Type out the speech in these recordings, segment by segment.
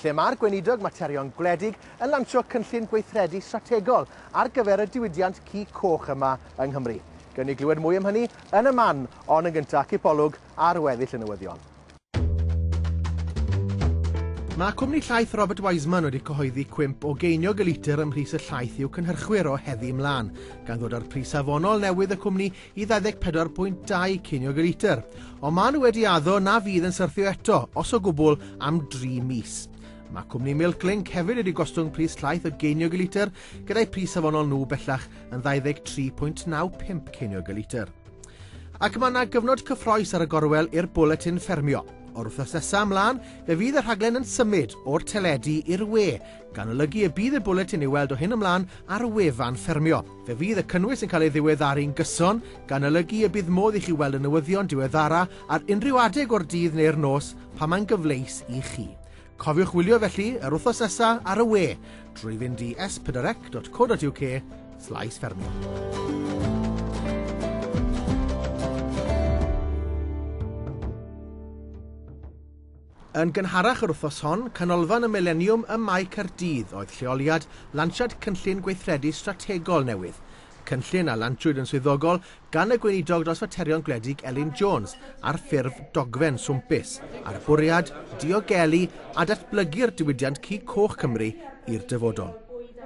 lle mae'r Gweinidog Materion Gwledig yn lansio cynllun gweithredu strategol ar gyfer y diwydiant cig coch yma yng Nghymru. Gewn ni glywed mwy am hynny yn y man, ond yn gyntaf, cipolwg ar weddill y newyddion. Mae cwmni llaeth Robert Wiseman wedi cyhoeddi cwymp o geiniog y litr ym mhris y llaeth i'w cynhyrchwyr o heddi ymlaen, gan ddod â'r pris safonol newydd y cwmni i 24.2 ceiniog y litr, ond maen nhw wedi addo na fydd yn syrthio eto, os o gwbl, am dri mis. Mae cwmni Milk Link hefyd wedi gostwng pris llaeth o geiniog y litr, gyda'i pris safonol nhw bellach yn 23.95 ceiniog y litr. Ac mae yna gyfnod cyffroes ar y gorwel i'r bwletin ffermio. O'r wythnos nesaf ymlaen, fe fydd y rhaglen yn symud o'r teledu i'r we, gan olygu y bydd y bwletin i'w weld o hyn ymlaen ar wefan ffermio. Fe fydd y cynnwys yn cael ei ddiweddaru'n gyson, gan olygu y bydd modd i chi weld y newyddion diweddara ar unrhyw adeg o'r dydd neu'r nos pan mae'n gyfleus i chi. Cofiwch wylio felly yr wythnos nesa ar y we drwy fynd i s4ec.co.uk slaes ffermio. Yn gynharach yr wythnos hon, Canolfan y Mileniwm ym Mae Caerdydd oedd lleoliad lansiad cynllun gweithredu strategol newydd. Y cynllun a lansiwyd yn swyddogol gan y Gweinidog dros Faterion Gwledig Elin Jones ar ffurf dogfen swmpus, â'r bwriad diogelu a datblygu'r diwydiant cig coch Cymru i'r dyfodol.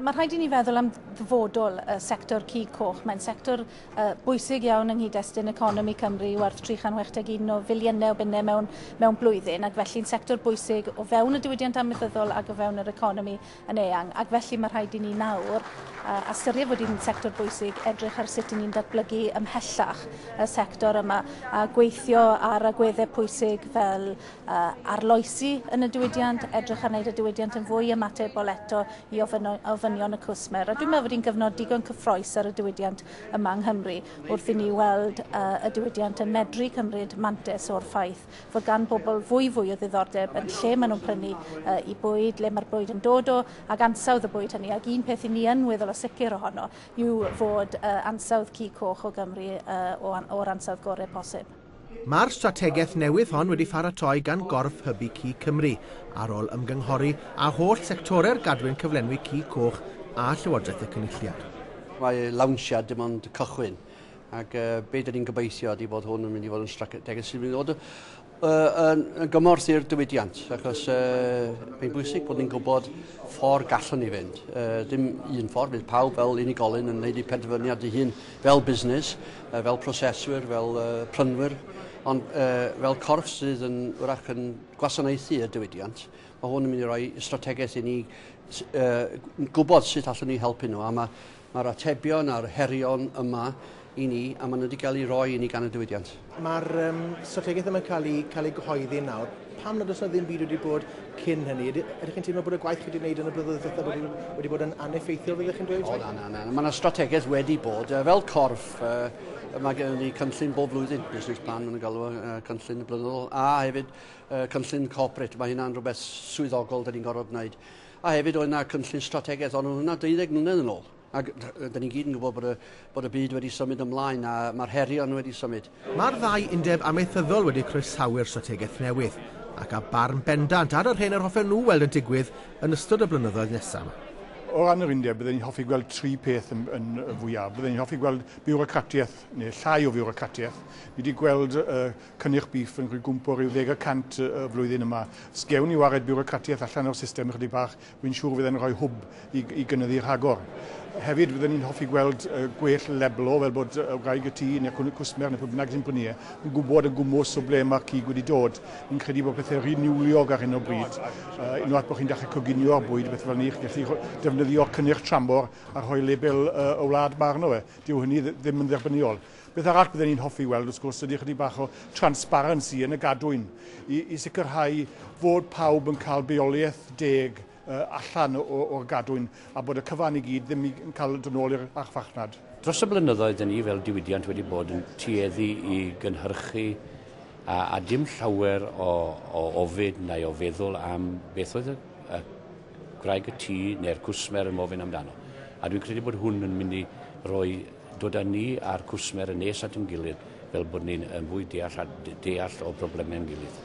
Mae rhaid i ni feddwl am ddyfodol y sector cig coch. Mae'n sector bwysig iawn yng nghyd-destun economi Cymru i werth 361 o filiynau o bunnau mewn, mewn blwyddyn ac felly'n sector bwysig o fewn y diwydiant amaethyddol ac o fewn yr economi yn eang ac felly mae rhaid i ni nawr uh, ystyried bod hi'n sector bwysig edrych ar sut i ni'n datblygu ymhellach y sector yma a gweithio ar agweddau pwysig fel arloesi yn y diwydiant, edrych ar wneud y diwydiant yn fwy ymatebol eto i ofynion y cwsmer. A dwi'n meddwl bod hi'n gyfnod digon cyffroes ar y diwydiant yma yng Nghymru wrth i ni weld uh, y diwydiant yn medru cymryd mantes o'r ffaith fod gan bobl fwy fwy o ddiddordeb yn lle maen nhw'n prynu uh, i bwyd, le mae'r bwyd yn dod o, ac ansawdd y bwyd hynny. Ac un peth i ni yn weddol o sicr ohono yw fod uh, ansawdd cu coch o Gymru uh, o'r ansawdd gorau posib. Mae'r strategaeth newydd hon wedi pharatoi gan gorff hybu cig Cymru, ar ôl ymgynghori â holl sectorau'r gadwyn cyflenwi cig coch a Llywodraeth y Cynulliad. Mae lawnsiad dim ond cychwyn, ac uh, be dyn ni'n gobeithio ydy bod hwn yn mynd i fod yn strategaeth sy'n mynd i fod uh, yn gymorth i'r diwydiant, achos uh, mae'n bwysig bod ni'n gwybod ffordd gallwn ni fynd. Uh, dim un ffordd, bydd pawb fel unigolyn yn gwneud ei penderfyniad ei hun. fel busnes, fel proseswyr, fel prynwyr, ond fel corff sydd yn wrach yn gwasanaethu y diwydiant, mae hwn yn mynd i roi strategaeth i ni gwybod sut allwn ni helpu nhw, a mae'r atebion a'r herion yma i ni, a maen nhw wedi cael eu rhoi i ni gan y diwydiant. Mae'r um, strategaeth yma'n cael ei, cael ei gyhoeddi nawr. Pam nad oes yna ddim byd wedi bod cyn hynny? Ydych chi'n teimlo bod y gwaith chi wedi gwneud yn y blynyddoedd diwethaf wedi, wedi bod yn aneffeithiol, fyddech chi'n dweud? O, na, na, na. Mae yna strategaeth wedi bod. Fel corff, mae gen ni cynllun bob blwyddyn, business plan yn galw uh, cynllun blynyddol, a hefyd uh, cynllun corporate, mae hynna'n rhywbeth swyddogol da ni'n gorfod wneud. A hefyd oedd yna cynllun strategaeth, ond oedd hwnna 12 mlynedd yn ôl. Ac rydyn ni gyd yn gwybod bod y, bod y byd wedi symud ymlaen a mae'r herion wedi symud. Mae'r ddau undeb amaethyddol wedi croesawu'r strategaeth newydd, ac â barn bendant ar yr hyn yr hoffen nhw weld yn digwydd yn ystod y blynyddoedd nesaf 'ma. O ran yr undeb, bydden ni'n hoffi gweld tri peth yn, yn fwyaf. Bydden ni'n hoffi gweld biwrocratiaeth, neu llai o fiwrocratiaeth. Ni wedi gweld uh, cynnyrch bîff yn rhygwmpo rhyw ddeg y cant y flwyddyn yma. Os gewn ni wared biwrocratiaeth allan o'r system ychydig bach, Fi'n siŵr fydd e'n rhoi hwb i i gynyddu rhagor. Hefyd fydden ni'n hoffi gweld yy gwell leblo fel bod yy wraig y tŷ neu'r cwn- cwsmer neu pwy bynnag sy'n prynu e yn gwbod yn gwmws o ble mae'r cig wedi dod. Fi'n credu bod pethe'n rhy niwliog ar hyn o bryd. Yy unwaith bod chi'n dechre coginio'r bwyd a bethe fel 'ny chi'n gallu rho- defnyddio cynnyrch tramor a rhoi label yy y wlad 'ma arno fe. Dyw hynny ddi- ddim yn dderbyniol. Beth arall bydden ni'n hoffi weld, wrth gwrs, ydy ychydig bach o transparency yn y gadwyn i, i sicrhau fod pawb yn cael bioleiaeth deg uh, allan o'r gadwyn a bod y cyfan i gyd ddim yn cael dod nôl i'r archfarchnad. Dros y blynyddoedd, dyn ni fel diwydiant wedi bod yn tueddu i gynhyrchu a, a dim llawer o, o ofid neu o feddwl am beth oedd y, y gwraig y tŷ neu'r cwsmer yn ofyn amdano. A dwi'n credu bod hwn yn mynd i roi dod â ni a'r cwsmer yn nes at ein gilydd fel bod ni'n yn fwy deall a deall o broblemau ein gilydd.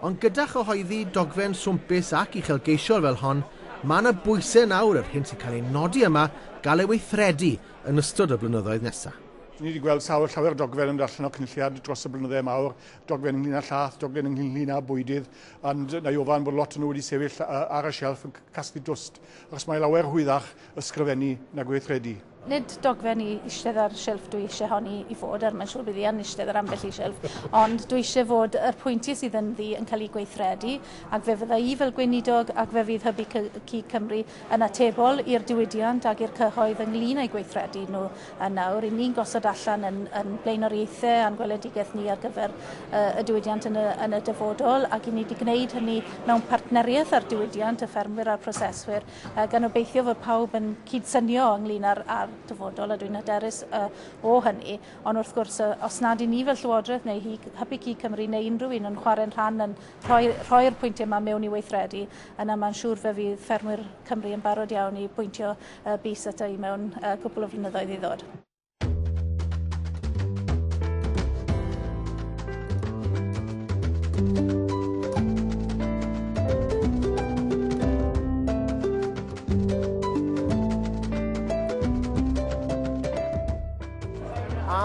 Ond gyda chyhoeddi dogfen swmpus ac uchelgeisiol fel hon, mae yna bwysau nawr yr hyn sy'n cael ei nodi yma gael ei weithredu yn ystod y blynyddoedd nesaf. Ni wedi gweld sawl llawer o dogfen yn dod allan o Cynulliad dros y blynydde mawr, dogfen ynglyn â llath, dogfen ynglyn â bwydydd, ond na i ofan bod lot o nhw wedi sefyll ar y shelf yn casglu dwst, achos mae lawer rhwyddach ysgrifennu na gweithredu. Nid dogfen i eistedd ar silff dwi eisiau honi i fod ar, mae'n siŵr bydd hi yn eistedd ar ambell i silff, ond dwi eisiau fod yr pwyntiau sydd ynddi yn cael eu gweithredu, ac fe fydda i fel Gweinidog ac fe fydd Hybu Cig Cymru yn atebol i'r diwydiant ac i'r cyhoedd ynglŷn â'u gweithredu nhw yn awr, i ni'n gosod allan yn yn blaenoriaethau a'n gweledigaeth ni ar gyfer y diwydiant yn y yn y dyfodol ac i ni wedi gwneud hynny mewn partneriaeth â'r diwydiant, y ffermwyr a'r proseswyr. a gan obeithio fod pawb yn cydsynio ynglyn â'r, ar dyfodol, a dwi'n hyderus uh, o hynny. Ond wrth gwrs, uh, os nad i ni fel Llywodraeth neu hi, Hybu Cig Cymru neu unrhyw un yn chwarae'n rhan yn rhoi, rhoi'r pwyntiau yma mewn i weithredu, yna mae'n siŵr fe fydd ffermwyr Cymru yn barod iawn i bwyntio uh, bus ata i mewn uh, cwpl o flynyddoedd i ddod.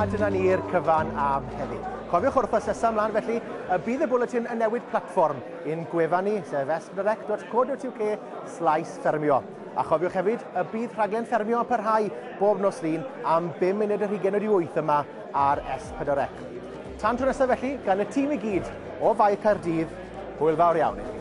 A dyna ni'r cyfan am heddi. Cofiwch wrth asesu ymlaen felly, y bydd y bwletin yn newid platfform i'n gwefan ni, sef esbyrec.co.uk slaes ffermio. A chofiwch hefyd y bydd rhaglen ffermio yn parhau bob nos Lun am 5 munud yr hugen wedi 8 yma ar S4C. Tan tro nesaf felly, gan y tîm i gyd o Fae Caerdydd, hwyl fawr iawn i chi.